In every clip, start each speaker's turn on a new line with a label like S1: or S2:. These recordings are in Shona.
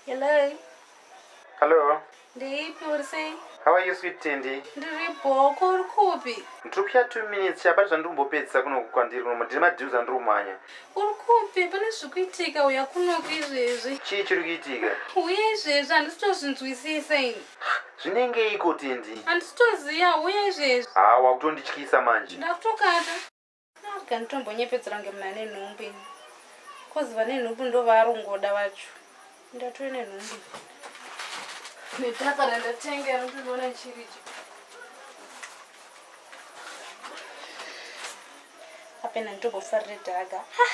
S1: Hello.
S2: Hello. Ndiipi
S1: uri sei? How are you sweet Tindi?
S2: Ndiri bhoko
S1: uri kupi? Ndiri kuya two minutes
S2: chapati zvandiri kumbopedzisa kuno kwandiri kunomo ndiri madeals andiri kumhanya. Uri kupi?
S1: Pane zviri kuitika uya kunoku izvezvi. Chii chiri kuitika?
S2: Uye izvezvi
S1: handisi tozvinzwisisa ini. Zvinenge iko
S2: Tindi? Handisi toziva uye
S1: izvezvi. Haa wakutondityisa
S2: manje. Ndakutokata.
S1: Kana tombonyepedzera kunge muna nenhumbu ini. Cause vane nhumbu ndovarongoda vacho. Ndatove nenhumbu. Netaka randatenga rinotoona chiriji. Apena ndobofarire dhaga. Ah!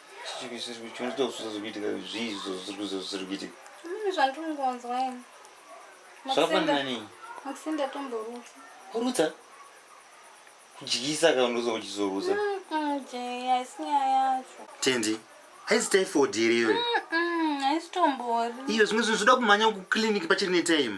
S1: kurutsa
S3: kudyisa kaundozo uchizorutsa
S1: tendi
S2: haisi typhoid here iwe haisitombori
S1: iyo zvimwe zvinhu zvoda
S2: kumhanya kuclinic pachiri netime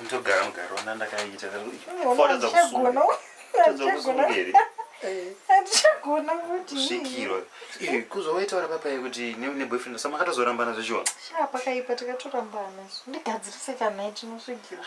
S2: ndogara mugaro ona ndakaita handichagona
S4: kutisvikirwa
S2: izvi kuzovaita vari papai kuti neboyfriend sa makatozorambana zvechiona shaa pakaipa
S4: tikatorambana ndigadzirise kana tinosvikirwa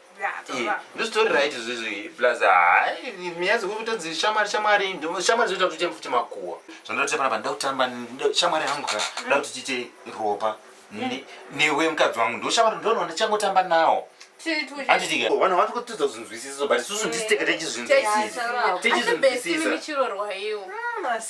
S2: ndositori right izvizvi plus hai nyaya dzekutonzi shamwari shamwari shamwari zvoita kuti tiite futi makuwa zvandotoita panapa ndoda kutamba shamwari yangu ka ndoda kuti tiite ropa newe mukadzi wangu ndoshamwari ndoona ndichangotamba nawo anditika vanhu vati kutidza kuzvinzwisiso but isusu ndisiteke techizvinzwisisa techizvinzwisisa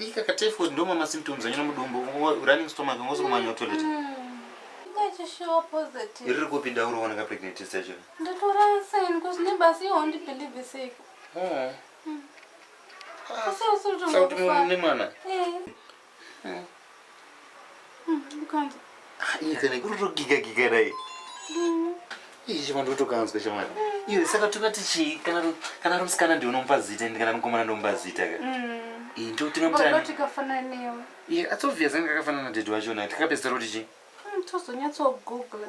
S2: Ika ka typhoid ndoma ma symptoms anyana mudumbu running stomach ngozo kumanya toilet. Iri
S1: kupi dauro wana ka
S2: pregnant test yacho? Ndatora sign
S1: cause neighbors you won't believe this. Oh. Kasi
S2: usutu mwana. Eh. Hmm.
S1: iye
S2: kana kutotogiga giga dai iyi chimwe ndotokanzwa chamwana iwe saka tokati chii kana romusikana ndi unomupa zita ndi kana mukomana ndomupa zita ka iyi ndo tingamutaniakafananiwe
S1: iye atsobviya zanga
S2: kakafanana na dedi wachona tikapedzisira kuti chii
S1: tozonyatsogoogla